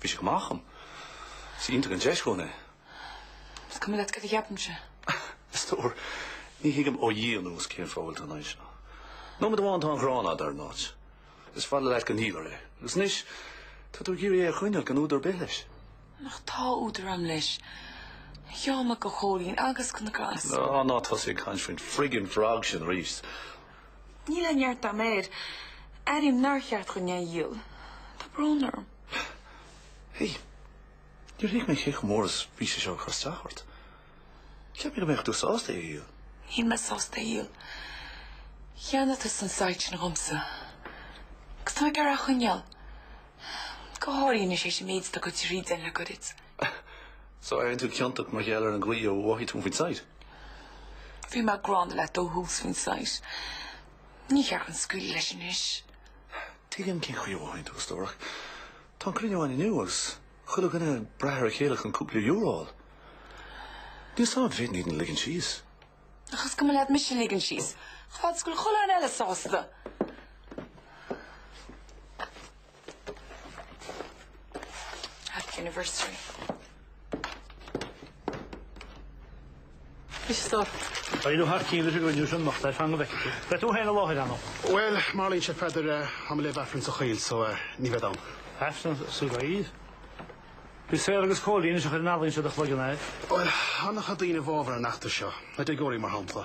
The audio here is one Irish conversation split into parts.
Bhí sé chomh maith dhom. Is iontach an deis dhúinn é. Is cuma leat cad a cheapaimse. A stór, ní thuigim ó Dhia anuas cén fáth a bhfuil tú ina aghaidh seo. Nóiméad amháin tá an ghráin agat ar an áit. Is fada leat go ndíolfar é. Agus anois, tá tú ag iarraidh é a choinneáil gan údar ar bith leis. Ach tá údar agam leis. Gheobhaidh mé go Cóilín agus go na gcleas. Ná, ná tosaigh ag caint faoin friggin' frog sin arís. Níl aon neart agam air. Airím nár cheart dhúinn é a dhíol. Tá brón orm. Hé, níor thuig mé cé chomh mór is a bhí sé seo ag cur isteach ort. Cheap mé go mbeadh tú sásta é a dhíol. Níl mé sásta é a dhíol. Cheannaigh tusa an site sin dhomsa agus tá mé ag iarraidh é a choinneáil. Go háirithe anois tar éis an méid atá gaibhte tríd againn le goirid. So, airíonn tú ciontach mar gheall ar an gcaoi a mhothaigh tú faoin site? Bhí mé gránna leat ó thús faoin site. Níor cheart dhúinn scaoileadh leis anois. Tuigim cén chaoi a mhothaíonn tú, a stór. Tá an cruinniú ann inniu agus chuile dhuine ag brath ar a chéile chun cúpla euro a fháil. Níl a fhios agam an bhféadfainn iad a ligean síos. Ach is cuma leat mise a ligean síos. Chomh fada is go bhfuil chuile dhuine eile sásta. Happy anniversary. Muise stop. Go n-éirí thar cinn leis an gcruinniú sin anocht, ar feadh an bheic. Beidh tú féin i láthair ann, ar ndóigh. Bhuel, mar a tharlaíonn sé, a Pheadair, tá mé ag léamh Aifrinn sa choill so ní bhead ann. Aifreann sa gcoill? Is saor agus Cóilín a chuir an ealaín seo i do chloigeann, air. Bhuel, tá an-chuid daoine i bhfabhar an fheachtais seo, na déagóirí mar shampla.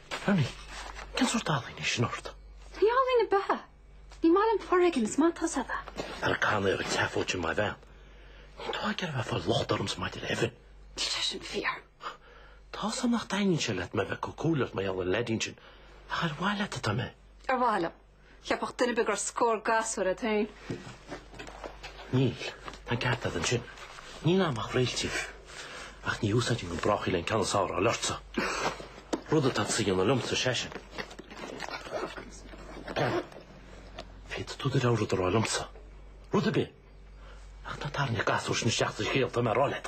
Berni, cén sórt ealaíne é sin ort? Ní ealaín ar bith é. Ní maith liom foréigean, is maith atá a fhios agat é. Ar an gcánaí ar an tseafóid sin maith an bhean. Níl tú ach ag iarraidh a bheith ag fáil locht ormsa maidir le Evan. Níl sé sin fíor. Tá a fhios agam nach dtaitníonn sé leat mé a bheith ag cur comhairle ort mar gheall ar an leidín sin ach ar mhaithe leat atá mé? Ar mhaithe liom. Cheapfadh duine ar bith go raibh scór gasúr agat féin. Níl. Tá an ceart agat ansin. Níl ann ach Réailtín. Ach ní úsáidfinn go brách í leis an gceann is fearr a fháil ortsa. Rud atá tusa a dhéanamh liomsa seisean. Bhean, féadfaidh tú do rogha rud a rá liomsa. Rud ar bith. Ach ná tarraing an gasúr sin isteach sa scéal, tá mé a rá leat.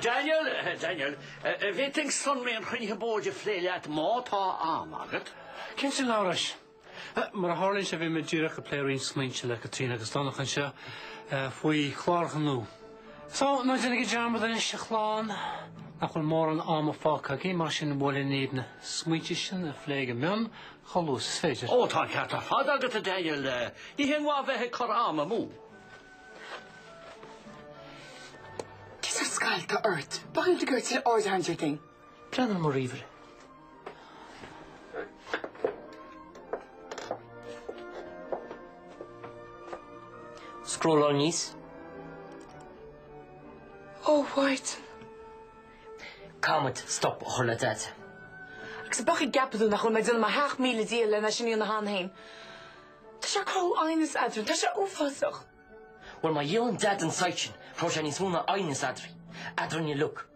Daniel, Daniel, an bhféadfainn sonraí an chruinnithe boird a phlé leat má tá am agat. Cén saol amhrais? Mar a tharlaíonn sé, bhí mé díreach ag plé roinnt smaointe le Caitríona agus Donach anseo faoi chlár gnó. So, ná déanaigí dearmad anois a chlann nach bhfuil mórán ama fágtha againn, mar sin ba cheart dúinn na smaointe sin a phlé go mion chomh luath is is féidir. Ó, tá an ceart ar fad agat, a Daniel. Ní haon mhaith bheith ag cur am amú. Tús ar scoil atá ort. Ba chuimhin liom go raibh tú le aird a tharraingt ar thing. Pleanáil mo ríomhaire. Scrolláil aníos. Ó, a Mhaighdean. Caithfidh muid stop a chur le Daid. Agus é a bheith ag ceapadh dúinn nach bhfuil mé ag déanamh mo theach míle díol le n-eisean í ina hann féin. Tá sé ag cur aighnis eadrainn. Tá sé uafásach. Bhuel, má dhíolann Daid an site sin, cuirfidh sé níos mó ná aighneas eadrainn. Eadrainn a' liug.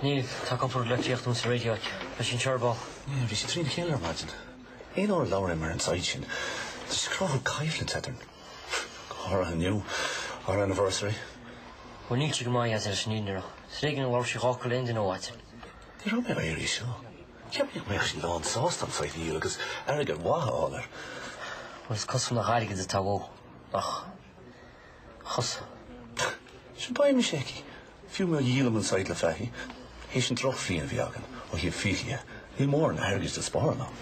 Níl, tá cupardaí leictreachais sa réidió, leis an eireaball. Bhí sí trína chéile ar maidin. Aon uair a labhair mé ar an site sin, tá sé ag cruthú coimhlinte eadrainn. Go háirithe inniu, ár anniversary. Bhuel, níl sí go maith as ar aon nós. Is ar éigin a labhair sí dhá fhocal le haon duine ó mhaidin. Ní raibh mé ag iarraidh seo. Cheap mé go mbeadh sí lán sásta an site a dhíol agus airgead maith a fháil air. Bhuel, is cosúil nach airgead atá uaithi ach. thusa. Sea, beidh mise aici, fiú mura dhíolaim an site le Fahy, théis an drochbhliain a bhí againn ó thaobh fiacha dhe, níl mórán airgid le spáráil ann.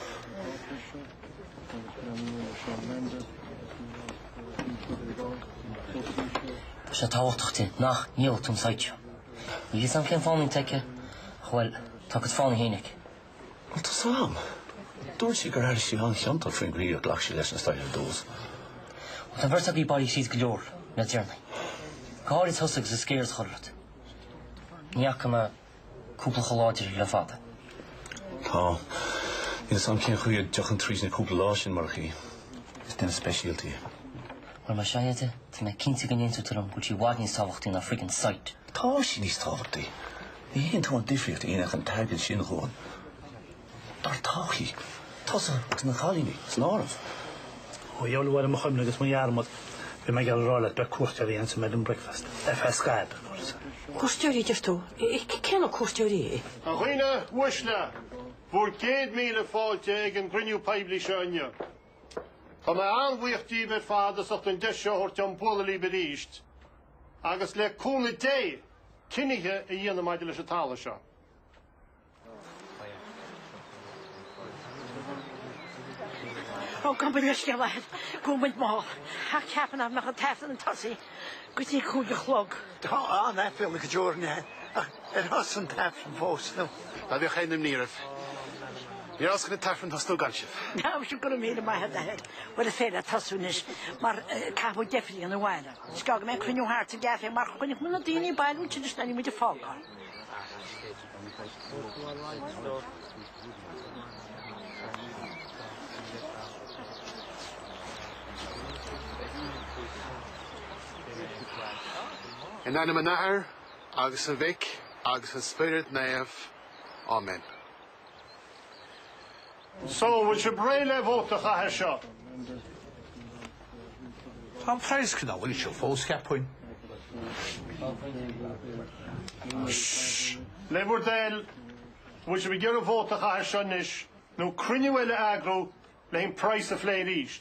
Tá sé tábhachtach di nach ndíolfadh muid an site. Níl a fhios agam cén fáth nach dtuigeann sí, bhuel, tá agat fáth amháin aici. Bhuel, tá a fhios agam. Dúirt sí gur airigh sí an-chiontach faoin gcaoi ar ghlac sí leis an scéal ar dtús. Bhuel, an bheirt agaibh, bailigh sibh go leor le déanaí. Go háirithe tusa agus an scare a cuireadh ort. Ní fhaca mé cúpla chomh láidir le fada. Tá. Níl a fhios agam cén chaoi a dtiocfainn tríd na cúpla lá sin murach í. Is duine speisialta í. Bhuel, mar sin de, tá mé cinnte go n-aontóidh tú liom go bhfuil sí i bhfad níos tábhachtaí ná friggin' site. Tá sí níos tábhachtaí. Ní thuigeann tú an difríocht a dhéanfadh an t-airgead sin dhúinn, dár todhchaí, tusa agus na cailíní san áireamh. Ó ghabh i leith, mo chuimhne agus mo dhearmad, bhí mé ag iarraidh a rá leat, beidh cuairteoirí anseo maidin, breakfast. FL Scaip, a dúirt sí. Cuairteoirí, a deir tú? Cé na cuairteoirí? A dhaoine uaisle, bhur gcéad míle fáilte ag an gcruinniú poiblí seo inniu. Tá mé an-bhuíoch díbh ar fad as ucht an deis seo a thabhairt dom bualadh libh arís. agus le cúnamh Dé, cinneadh a dhéanamh maidir leis an talamh seo. Ó, gabh mo leithscéal, a Athair, go bhfuil muid mall, ach cheap mé nach raibh an tAifreann ag tosaí go dtí cúig a chlog. Tá an-aiféala go deo orainn, ach ar thosaigh an t-aifreann fós, nó? Ná bíodh aon imní oraibh, ní fhéadfainn an t-aifreann a thosnú gan sibh. Tá, sin go raibh míle maith agat, a Athair. Bhuel, is féidir leat tosú anois, mar caithfidh mé deifriú abhaile. Scaoilfidh mé cruinniú thart sa gcaife mar choinnigh muid na daoine bailithe agus leanfaidh muid ag fágáil. In ainm an Athair agus an Mhic agus an Spioraid Naoimh. Áiméan. So, an bhfuil sibh réidh le vote a chaitheamh ar seo? Tá an praghas cineál íseal fós, cheapfainn. Ssh! Le bhur dtoil, an bhfuil sibh ag iarraidh vote a chaitheamh ar seo anois nó cruinniú eile a eagrú leis an praghas a phlé arís?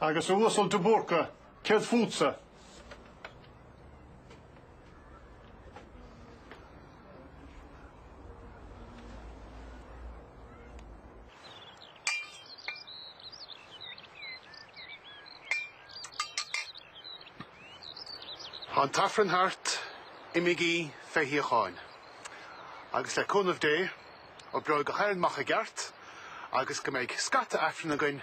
Agus a Uasail de Búrca, céard fútsa? Tá an tAifreann thart, imigí fé shíocháin. Agus le cúnamh Dé, oibreoidh gach aon rud amach i gceart agus go mbeidh scata Aifreann againn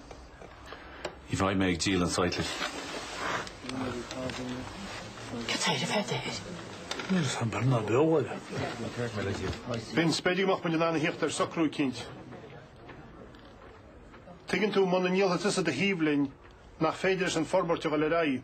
Ní bheidh mé ag díol an site libh. Cad é ar feadh de thoir? Níl fhios a'm beirt ná beag abhaile. Vince, b'fhéidir go mbeadh muid in ann a thíocht ar shocrú eicínt. Tuigeann tú, muna ndíolfaidh tusa do shuíomh linn, nach féidir leis an forbairt a dhul ar aghaidh.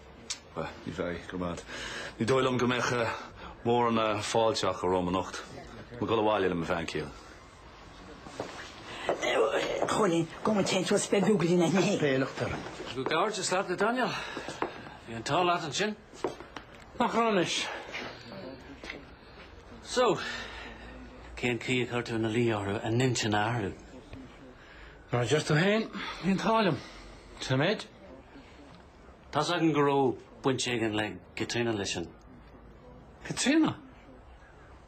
Ní dóigh liom go mbeadh mórán fáilte romham anocht. Tá mé ag dul abhaile le mo bhean chéile. Chóilín, Go bhfuil teinn suas beag rugadh linn aithne féin. Bealach dorn. Comhghairdeas leat, a Daniel. Bhí an t-ádh leat ansin. Nach raibh anois. So, cén chaoi a chuir tú ina luí orthu a n-intinn a athrú? Mar a deir tú féin, bhí an t-ádh liom. Sin an méid. Tá's againn go raibh baint éigin le Caitríona leis sin. Caitríona?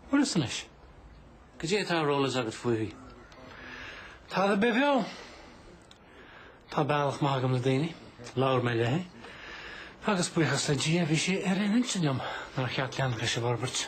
Bhuel is anois, cad é atá ar eolas agat fúithi. Tada ar bith beo! Tá bealach maith agam le daoine, labhair mé léi, agus buíochas le Dia bhí sí ar aon intinn liom nár cheart leanacht leis an bhforbairt.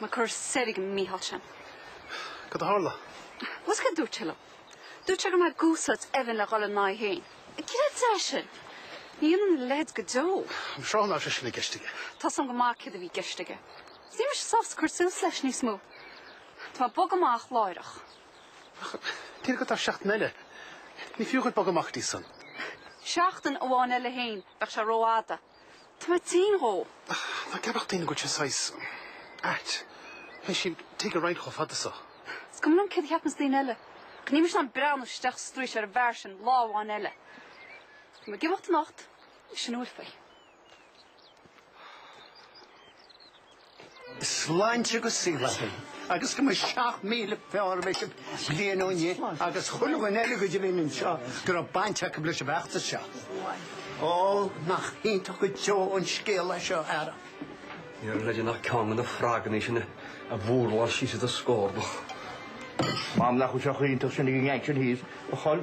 Má cuir soir ag an Mícheál sin. Cad é a tharla? Bhfuil a fhios agat cad a dúirt sé liom? Dúirt sé go raibh mé ag úsáid Evan le dhul ina aghaidh féin. Cad é atá air sin? Ní dhéanfainn a leithéid go deo. I'm sure nach raibh sé sin i gceist aige? Tá a fhios agam go maith céard a bhí i gceist aige. Is níl mise sásta cur suas leis níos mó. Tá mé ag bogadh amach láithreach. Ach níl agat ach seachtain eile? Ní fiú dhuit bogadh amach go dtí san. Seachtain amháin eile féin, bheadh sé rófhada. Tá mé tinn dhó. Ná ceapfadh daoine go bhfuil sé saghas ait. Théis an tig a roinnt chomh fada so. Is cuma liom céard a cheapanns daoine eile. Ach níl mise in ann breathnú isteach sa straois ar an bhfear sin lá amháin eile. Tá mé ag imeacht anocht is sin a bhfuil faoi. sláinte agus saol agaibh, agus go mba 7,000 fearr a bheas sibh bliain ó inniu agus chuile dhuine eile go deimhin anseo go raibh baint acu leis an bhfeachtas seo. Ó, nach iontach go deo an scéal é seo, a fheara. Ní raibh le déanamh ach ceann de na froganna sin a bhurláil síos i do scórnach. M'anam nach bhfuil sé chomh hiontach sin ag an ngeinc sin thíos, a chol.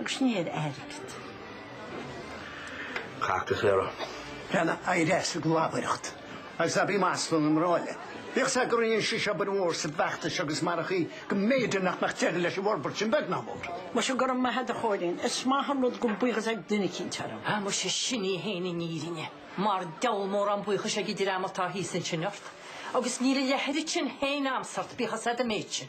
agus ní ar airgead. Cac is Éire. Cheana éirigh as an gclabaireacht agus ná bí ag maslú na mná eile. Bíodh a fhios agat go rinne sí seo obair mhór sa bhfeachtas agus marach í go mb'fhéidir nach mbeadh deireadh leis an bhforbairt sin beag ná mór. Muise go raibh maith agat a Chóilín. Is maith an rud go bhfuil buíochas ag duine eicínt orm. Ah muise sin í fhéin an fhírinne. Mar diabhal mórán buíochais ag an dream atá thíos ansin ort. Agus níl an oiread sin fhéin a'msa ort bíodh a fhios a'd éitse.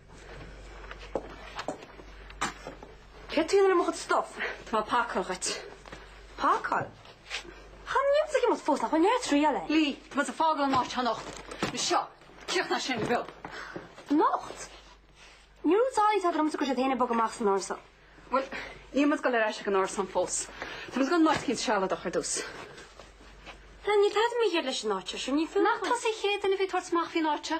Cad é atá tú a dhéanamh le mo chuid stuif? Tá mé ag pacáil dhuit. Pacáil? Chan fhuil mise ag imeacht fós ach mo leath triail é. Lee, tá muid ag fágáil an áit anocht. So críochnaigh sin, Bill. Anocht? Níor dhúirt tú liomsa go raibh siad féin ag bogadh amach as an árasán. Bhuel, níl muid ag dul ar ais ag an árasán fós. Tá muid ag dul in áit éicint sealadach ar dtús. Lee, níl tada mícheart leis an áit seo, sure, ní fiú. Nach tusa an chéad duine a bhí ag tabhairt amach faoin áit seo?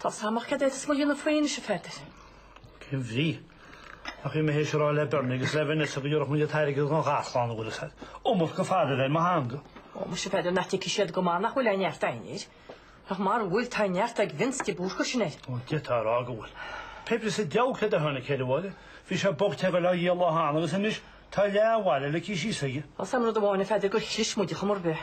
Tá a fhios agam ach céard atá muid ag dul a dhéanamh faoi anois, a Pheadair. Cén bhrí ach bhí mé théis a rá le Bernie agus le Vanessa go dtiúrfadh muid an t-airgead don gharchlann a bhfuil a iomad go fada a bheith ar mo theanga? Ó, muise, Peadar, nach dtuigfidh siad go maith nach bhfuil aon neart againn air. Ach mara bhfuil, tá neart ag Vince de Búrca sin air. Ó, d'fhéadfá a rá go bhfuil. Pé ar bith sa diabhal céard a tháinig ceithre abhaile. Bhí sé bocht go leor an lá cheana agus anois tá leath an bhaile le cíos aige. Tá a fhios agam rud amháin, a Pheadair, gur chlis muid ar chuma ar bith.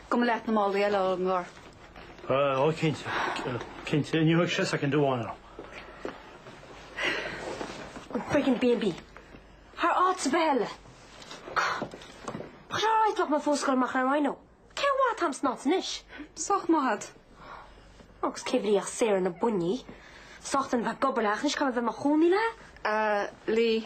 Tabhair leat na málaí eile ón gcarr. Ó, cinnte, cinnte, ní thug sise cinn de mhóin orm. Friggin' B and B thar áit ar bith eile. Cad a fhreagraítear mé fós ag dul amach ar Rhino? Cén mhaith atá an snámh anois? Sách maith a'd. Ó, agus cén bhrí ach saor na buinní. Sách dona a bheith gan obair ach anois caithfidh mé a bheith i mo chónaí le? Lee,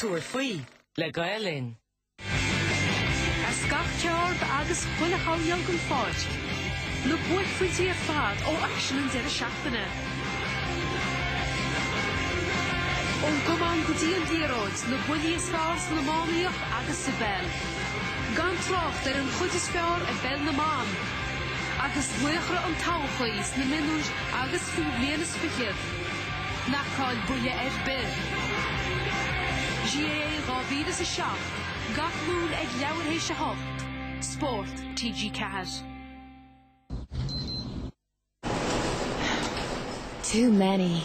Tabhair faoi le Gael Linn. As gach ceard agus chuile choirnéal den pháirc na buaicphointí ar fad ó aicsean an deireadh seachtaine. Ón gcamán go dtí an liathróid, na buillí is fearr san iománaíocht agus sa bpeil. Gan trácht ar an chuid is fearr i bpeil na mban. Agus laochra an todhchaí sna mionúir. agus faoi bhliain is fichead, ná caill buille ar bith. GAA 2007, Gach Luan ag leathuair tar éis 8, Spórt, TG4. Too many.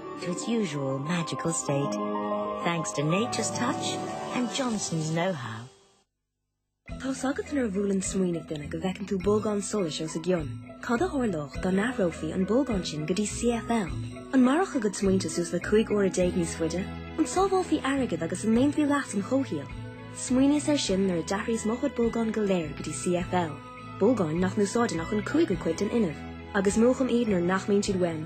to its usual magical state, thanks to nature's touch and Johnson's know-how. Tá's agat nuair a bhuaileann smaoineamh duine go bhfeiceann tú bolgán solais os a gcionn. Cad a tharlódh dá n-athrófaí an bolgán sin go dtí CFL? An mairfeadh a gcuid smaointe suas le cúig uaire déag níos faide? An sábhálfaí airgead agus an ndéanfaí leas an chomhshaoil? Smaoiníos air sin nuair a d'athraíos mo chuid bolgán go léir go dtí CFL. Bolgáin nach n-úsáideann ach an cúigiú cuid den fhuinneamh, agus múchaim iad nuair nach mbíonn siad uaim.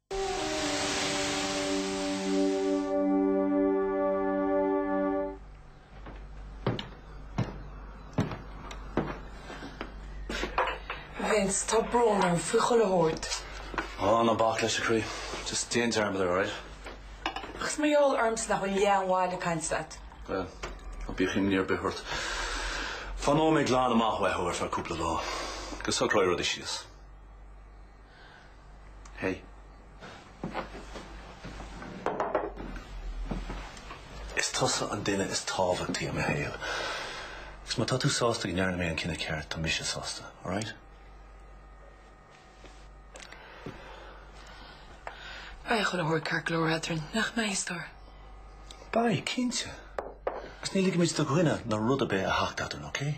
Vince, tá brón orm faoi chuile shórt. Ó, ná bac leis, a chroí. Just déan dearmad air, alright? Ach is maith is eol dhomsa nach bhfuil aon mhaith a bheith ag caint leat. Bhuel, ná bíodh imní ar bith ort. Fanóidh mé glan amach uathu ar feadh cúpla lá. Go socróidh rudaí síos. Hey. Is tusa an duine is tábhachtaí i mo shaol. Agus má tá tú sásta go ndearna mé an cinneadh ceart, tá mise sásta. Alright? Beidh chuile shórt ceart go leor eadrainn, nach mbeidh, Stór? Beidh, cinnte. Agus ní ligfidh muid do dhuine ná rud ar bith a theacht eadrainn, okay?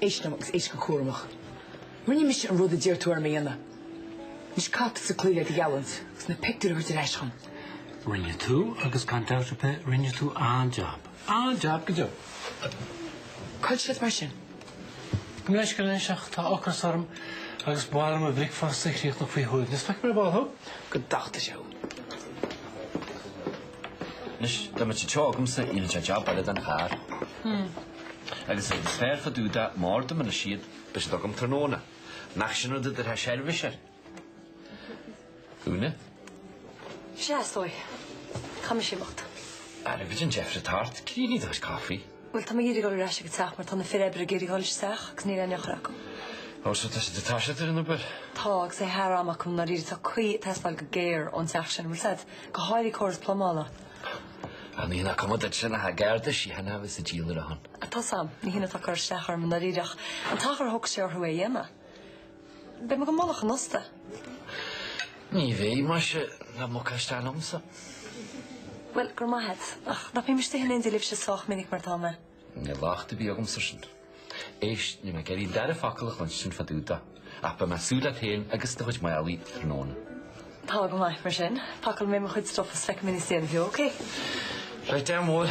Éist liom agus éist go cúramach. Rinne mise an rud a d'iarr tú orm a dhéanamh. Anois caithfidh tusa cloí le do gheallúint agus na pictiúir a thabhairt ar ais dhom. Rinne tú, agus gan dabht ar bith, rinne tú an-jab. An-jab go deo! Cá bhfuil siad mar sin? Gabh mo leithscéal anois ach tá ocras orm agus ba mhaith liom mo bhricfeasta a chríochnú faoi shuaimhneas. Feicfidh mé ar ball thú. Go dtachta sé thú. Anois, tá muid anseo agamsa i J. Jab maith den charr agus iad is fearr fadú dá mbárdamanna siad beirt agam tráthnóna. Nach sin rud a dtabharfá seirbhís air? Úna. Sea, a stór. Tá mise ag imeacht. Ara, céard é an deifir atá ort? Críochnaigh do chaifé. Bhuel, tá mé ag iarraidh dul ar ais ag an teach mar tá na fir oibre ag iarraidh dhul isteach agus níl aon eochair acu. Ó, so tá siad ag toiseacht ar an obair? Tá, agus é thar am acu, i ndáiríre. Tá caoi ag teastáil go géar ón teach sin, an bhfuil a fhios agat? Go háirithe córas plumála. Á, nach cuma duit sin nach é an Garda Síochána a bheas ag díol ar a shon? Tá a fhios agam, ní hin atá ag cur isteach orm, i ndáiríre, ach an t-achar a thógfadh sé orthu é a dhéanamh. Beidh mé ag dul chuig an óstán. Ní bheidh, maise, tá muc as dean liomsa. Bhuel, go raibh maith agat. Ach nach mbím istigh in éindí libhse sách minic mar atá mé. Níl locht ar bith agam air sin. Éist, níl mé ag iarraidh an dara focal a chluinstin fá dtaobh de, ach beidh mé ag súil leat féin agus do chuid málaí tráthnóna. Tá go maith, mar sin, pacálfaidh mé mo chuid stuff is feicfidh mé níos déanaí thú, ok? Right, dear mhóir.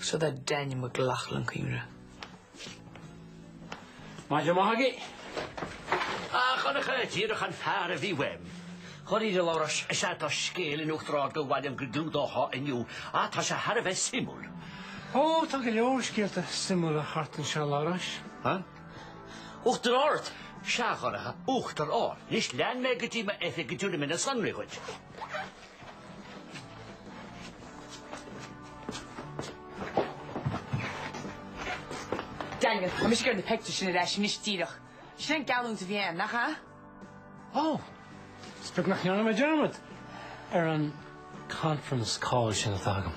so that Daniel McLaughlin can re. Maith maith agaibh. A Dhonncha, díreach an fear a bhí uaim. Cinnte, a Labhráis. Sea, tá scéal in Uachtar Ard gur mhaith liom go gclúdófá inniu ach tá sé thar a bheith suimiúil. Ó, tá go leor scéalta suimiúla thart anseo, a Labhráis. Huh? Uachtar Ard? Sea, a Dhonncha, Uachtar Ard. Anois lean mé go dtí m'oifig go dtiúrfaidh mé na sonraí dhuit. Daniel, tá mise ag iarraidh na peictiúir sin ar ais anois díreach. Sin an geallúint a bhí ann, nach ea? Ó! Is beag nach ndearna mé dearmad ar an conference call sin atá agam.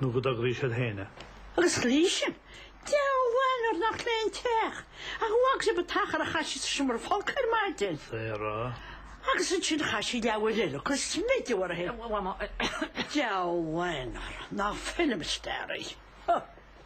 nó go dtograíonn siad féin. agus an Lee sin, Deabhal mhaith nuair nach léi an teach. An bhfaca sibh an t-achar a chaith sí sa seomra folctha ar maidin. Sarah. agus ansin chaith sí leathuair eile ag cur smideadh uirthi féin. Deabhal mhaith nuair nach film star í.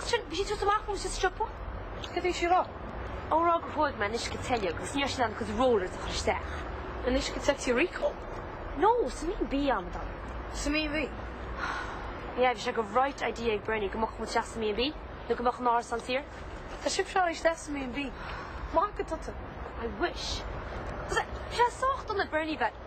Ansin bhí sí ag tabhairt amach dom sa siopa. Cad a bhí sí a rá? Á rá gur ghoid mé an uisce te uilig agus ní raibh sí in ann a cuid rollers a chur isteach. An uisce tigh Rico? No, sa B&B, a amadáin. Sa B&B? Yeah, bhí bright idea ag Bernie go mbogfadh muid isteach sa B&B, nó go mbeadh an t-árasán saor. Tá sibh ag rá isteach sa B&B. Ag magadh atá tú. I wish. Tusa, bhí sé sách dona ag Bernie bheith.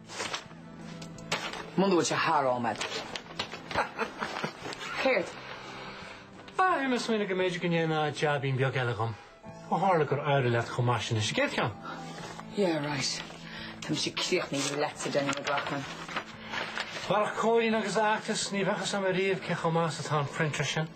Muna bhfuil sé thar am agat. Ha ha ha! Céard? Bhí mé ag smaoineamh go mb'fhéidir go ndéanfá jaibín beag eile dhom. Ó tharla gur éirigh leat chomh maith sin leis an gcéad cheann. Yeah right. Tá mise críochnaithe leatsa Daniel McLoughlin. Murach Cóilín agus a fheachtas ní bheadh fhios agam ariamh cé chomh maith is atá an printer sin.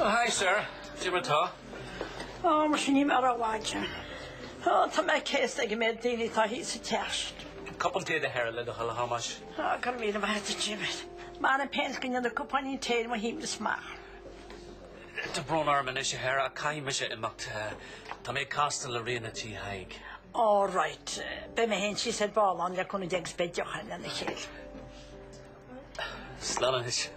Oh hi a Athair. Diarmuid tá? Oh mar sin ní mé raibh aige. Oh tá mé céasta ag mo dhuine atá thíos sa teach. Cupán tae don Athair le do thoil a Thomáis. Go raibh míle maith agat, David. Mar an péint go ndéanfaidh cupáinín tae ar mo shuim níos maith. Tá brón orm anois, a Athair, ach caithfidh mise imeacht. Tá mé ag castáil le Ríona Tí Thaidhg. All right. Beidh mé féin síos ar ball ann le cúnamh Dé is beidh deoch againn lena chéile. Slán anois.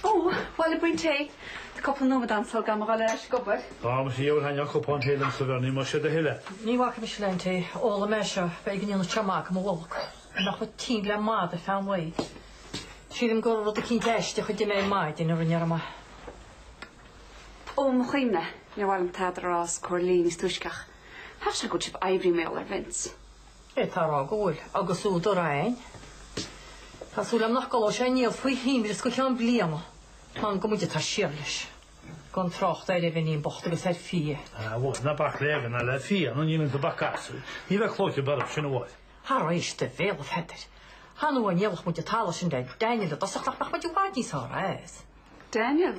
Ó, bhuel, cupán tae. Tá cúpla nóiméad agam sula gcaithfidh mé a dhul ar ais ag obair. Ó, muise Dheoir thaitneodh cupán tae liom sa bhfear ní mar siad a thuilleadh. Ní bhacfaidh mise le haon tae, ólfaidh mé seo b'fhéidir go ndéanfadh sé maith do mo bholg ar nach bhfuil tinn le mad ar feadh an lae. Sílim gur rud eicínt aisteach a d'ith mé ar maidin a rinne orm é. Ó, mo chuimhne, níor mhaith liom tada a rá os comhair Lee níos túisce ach. Thaithin sé go bhfuil sibh oibrigh mé ól ar Vince. é a rá go bhfuil agus údar agam. Tá súil agam nach gcuirfeadh sé aníos faoi thimire go ceann bliana mar gur muide atá siar leis, gan trácht ar Evan bocht agus ar Fia. Ah, bhuel, ná bac le Evan ná le Fia, nó ní bhíonns ag bac as. Ní bheidh clóite beag orm sin a fháil. Thar éis do bhéal, a Pheadair. Thá nó dá ndíolfadh muid an talamh sin le Daniel i dtosach nach mbeadh muid i bhfad níos fearr as. Daniel?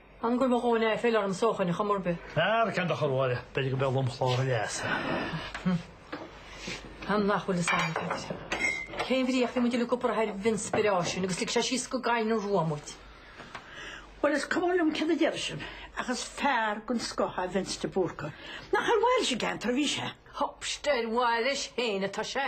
An gcuim a dhóine é filleadh ar an sócmhainn a chum uirbí? Ar ceann de chorrmháire, b'fhéidir go mbeadh lomchlár a leasa. An é nach bhfuil is ann duit? Cén bhrí ach bhí muid le cupar ar bhinspiráisiún agus lig sé síos go gaiin an ruam muid. Well is cuma liom cé a deir sin ach is fear den scoth é Vince de Búrca. Nach ar mhaithe leis an gceantar a bhí sé? Stop, is ar mhaithe leis féin atá sé.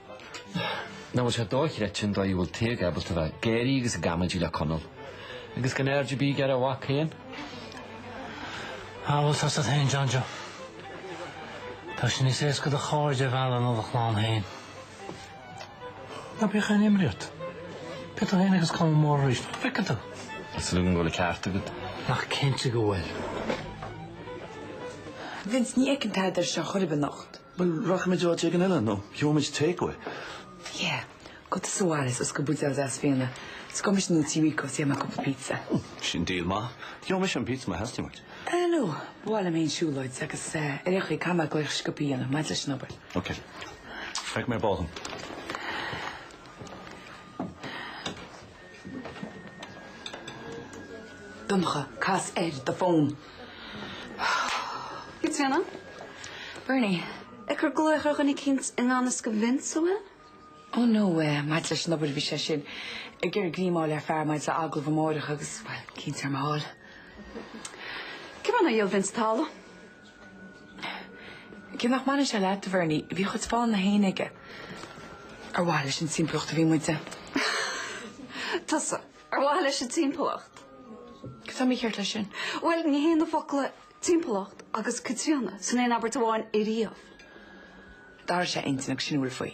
Nach bhfuil sé dochreidte an dóigh a bhfuil Tadhg ábalta bheith ag gáire agus ag amaidí le Conall agus gan aird ar bith aige ar a mhac féin? Bhuel tá a fhios agat féin, John Joe. Tá sé níos éasca do chairde a mhealladh ná do chlann féin. Ná bíodh aon imní ort. Beidh tú féin agus Conall mór arís. Feicfidh tú. Tá súil agam go bhfuil an ceart agat. Nach cinnte go bhfuil. Vince, ní fheicim Peadar anseo chor ar bith anocht. Bhuel, rachaimid áit éigin eile nó gheobhaimid takeaway. Yeah, go tí Suarez ós go bhfuil sé ag Fia. D'ordóimis nó Tí Rico is déanfaimid cúpla pizza. Ó, sin deal maith. Gheobhaidh mise an pizza má theastaíonn uait. Eh, no, b'fhearr liom fhéin siúlóid agus ar aon chaoi, caithfidh mé glaoch sciobtha a dhéanamh maidir leis an obair. Ok. Beidh mé ar ball leat. Donncha, cas air do fón. Caitríona, Bernie, ag cur glaoch ar dhuine eicínt i ngan fhios do Vince, an bhfuil? Oh no, eh, maidir leis an obair bhí sé sin ag iarraidh greim a fháil ar fhear maidir le agallamh amáireach agus, bhuel, caint ar Mhícheál. Cén chaoi nár dhíol Vince talamh. Cé nach mbaineann sé leat, a Bhernie, bhí a chuid fáthanna fhéin aige. Ar mhaithe leis an timpeallacht a bhí muide? Tusa, ar mhaithe leis an timpeallacht? Cad tá mícheart leis sin? Bhuel, ní théann na focla 'timpeallacht' agus 'Caitríona' san aon abairt amháin ariamh. D'athraigh sé a intinn agus sin a bhfuil faoi.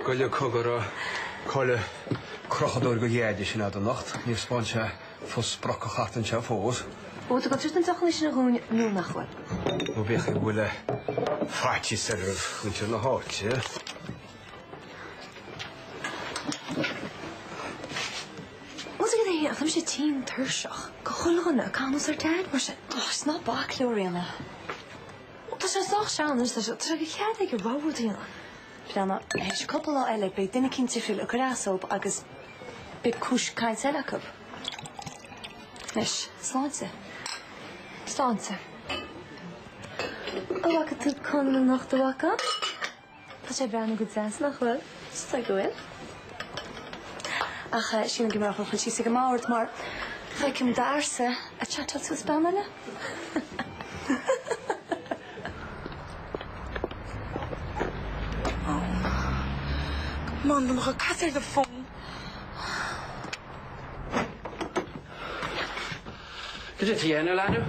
Gabh i leith, cogar, cá bhfuil an crochadóir de Jade sin agat anocht. Níor spáin sí fós sprioc a chairt anseo fós. Ó, tá go dtí an deoch aici dúinn nó nach bhfuil? Nó b'fhéidir go bhfuil faitíos ar ar mhuintir na háite. Ó, cad é, tá mise tinn tuirseach go bhfuil chuile dhuine ag caint ar Jade mar sin? Ó, is ná bac leo, a Riana. Tá sé sách teann anois leis an treoir, tá cead aige a rogha rud a dhéanamh. Pleananna. Faoi cheann cúpla lá eile, beidh duine eicínt eile ag cur as dóibh agus beidh cúis cainte eile acu. Anois, sláinte. Sláinte. An bhfaca tú Conall anocht, an bhfaca? Tá sé ag breathnú go deas, nach bhfuil? Is dóigh go bhfuil. Ach sílim go mb'fhearr dhuit suí síos ag an mbord mar feicim d'fhearsa ag chatáil suas bean eile. Oh, come on tá muid ag caint ar do phone. Go dtí an t-aon a leanadh.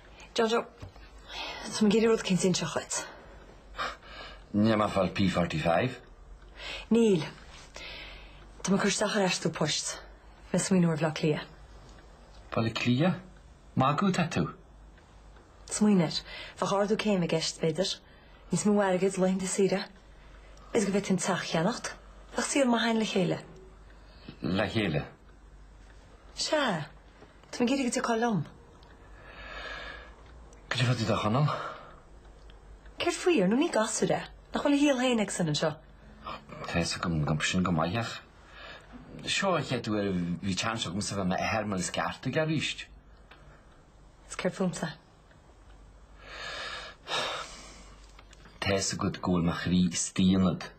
John Joe, Tá mé ag iarraidh rud a inseacht dhuit. An bhfuil mé ag fáil P45? Níl, Tá mé ag cur isteach ar aistriú poist. Bhí mé ag smaoineamh ar Bhleá Cliath. Bhaile Cliath? Ag magadh atá tú? Smaoinigh air. Bheadh ardú céime i gceist, b'fhéidir. Níos mó airgid, laethanta saoire. Is go mbeinn in ann teach a cheannacht. Bheadh saol maith againn le chéile. Le chéile? Sea. Tá mé ag iarraidh go dtiocfá liom. Goidé fá dtaobh de Chonall? Céard faoi? Ar ndóigh, ní gasúr é. Nach bhfuil a shaol féin aigesean anseo? Tá a fhios agam sin go maith ach seo an chéad uair a bhí seans agamsa a bheith i m'athair mar is ceart aige arís. Is céard fúmsa? Tá a fhios agat go bhfuil mo chroí istigh ionat.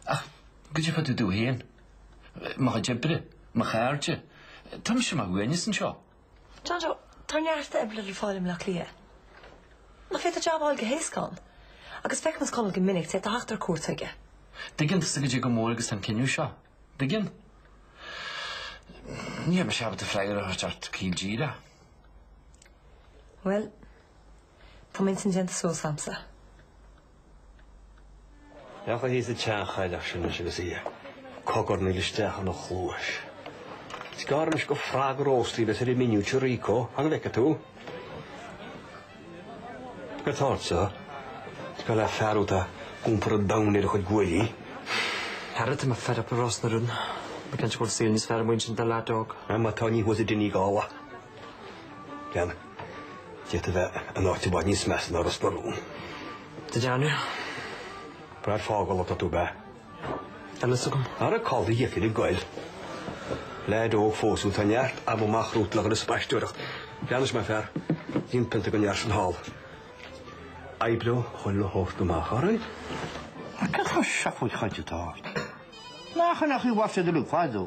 Ach goidé fá dtaobh domh féin, mo chuid oibre, mo chairde, tá mise ar mo shuaimhneas anseo. John Joe, Tá neart oibre le fáil i mBleá Cliath. Nach féidir jab a fháil go héasca ann? Agus feicfidh mise Conall go minic, d'fhéadfá a theacht ar cuairt chuige. Dtuigeann tusa goidé chomh mór agus atá an cinneadh seo? Tuigeann. Níl mise ábalta freagra a thabhairt ort caol díreach. Bhuel, tá m'intinn déanta suas a'msa. Féach thíos an tseanchailleach sin leis agus í ag cogarnaíl isteach ina chluais. Is gearr anois gur frog róstaithe a bheas ar an menu ag Rico, fan go bhfeicfidh tú. Tá tusa cosúil le fear atá ag iompar an domhain ar a chuid guaillí. Ara, tá mé fed up le Ros na Rún. Ba cheart go bhfuil saol níos fearr amuigh ansin do leaid óg. Má tá ní thuas i Donegal é. Déan. D'fhéadfá a bheith in áit i bhfad níos measa ná Ros na Rún. Do deineadh ag brath fágáil atá tú ab ea? Níl fhios agam. Ara cá bhfuil do dheifir ag goil? Leaid óg fós thú, tá neart ama amach romhat le dhul ag spaisteoireacht. Anois maith an fear, líon pionta don fhear sin thall. Oibreoidh a chuid le thabhairt amach orainn. Cad chuir seo faoi choinne ort? Nach ionadh, ní mhaith siad a luí faid ó.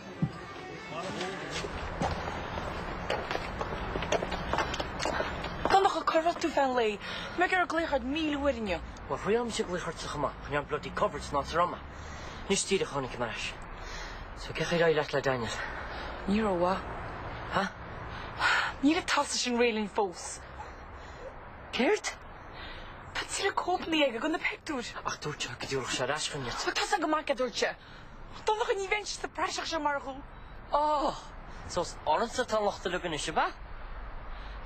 Donncha, cá raibh tú feadh an lae? Mé ag iarraidh glaoch ort míle uair inniu. Bhuel, bhí mise ag glaoch ortsa chomh maith ach níl an bloody coverage anso rómhaith. Anois díreach a tháinig mé ar ais. So, cén chaoi ar éirigh leat le Daniel? Ní rómhaith. Ha? Níl an t-asal sin réidh linn fós. Céard? Tá tuilleadh cóipeanna aige de na pictiúir. Ach dúirt sé go dtiúrfadh sé ar ais chugainn iad. Bhuel, tá fhios a'm go maith céard a dúirt sé. Donncha, Ní bheinn sa bpraiseach seo murach thú. Ó! So is ormsa atá an locht á leagan anois, ab ea?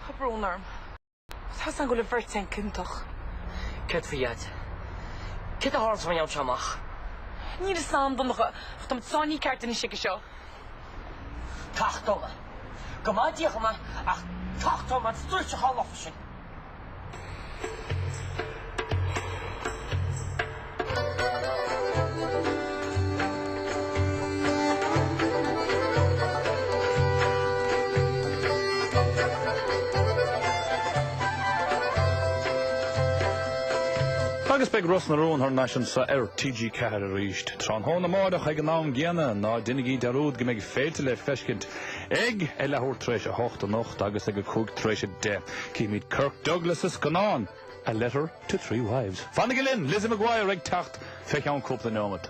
Tá brón orm. Tá fhios a'm go bhfuil an bheirt againn ciontach. Céard faoi Dhaide? Céard a tharlós má fhaigheann sé amach? Níl fhios a'm, Donncha, ach táimid sáinnithe ceart anois aige seo. Tachtóidh mé é. Go maithe Dia dhom é, ach tachtóidh mé an suarachán lofa sin. Agus beidh Ros na Rún thar n-ais anseo ar TG4 arís tráthnóna amárach ag an am gcéanna, ná déanaigí dearúd go mbeidh Féilte le feiscint Ag a leathuair tar éis a hocht anocht agus ag a cúig tar éis a deich, cífimid Kirk Douglas sa scannán A Letter to Three Wives. Fanaigí linn, Lizzie McGuire ag teacht fé cheann cúpla neomat.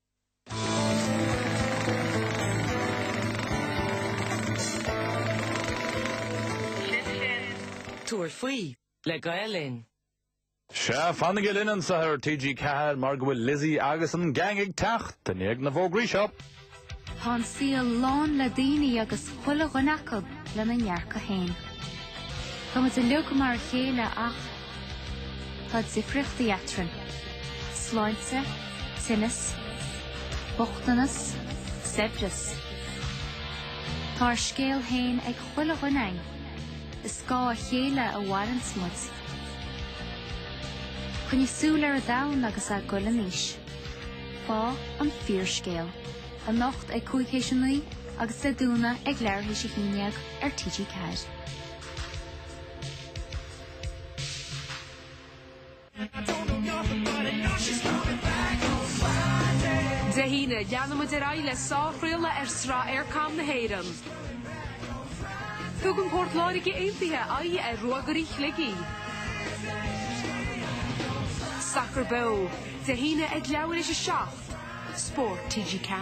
Sin sin. Tabhair faoi le Gael Linn. Sea, fanaigí linn anseo ar TG4 mar go bhfuil Lizzy agus an gang ag teacht i ndiaidh na bhfógraí seo. Tá an saol lán le daoine agus chuile dhuine acu lena ndearcadh féin. Táimid uilig mar a chéile ach. Tá difríochtaí eatrainn. Sláinte, tinneas, bochtanas, saibhreas. Tá ár scéal féin ag chuile dhuine againn. Ar scáth a chéile a mhaireanns muid. Coinnigh súil ar an domhan agus a' goil in aois. Faigh an fíorscéal. anocht ag cúig théis a naoi agus le dubáil ag leathar théis a haon dhéag ar TG4. Dé hAoine, leanann muid ar aghaidh le sárchraoladh ar sraith Eircom na hÉireann. Tugann Port Láirge Aontaithe aghaidh ar Ruagairí Shligigh. Sacar Beo, Dé hAoine ag leathuair théis 7, Spórt TG4.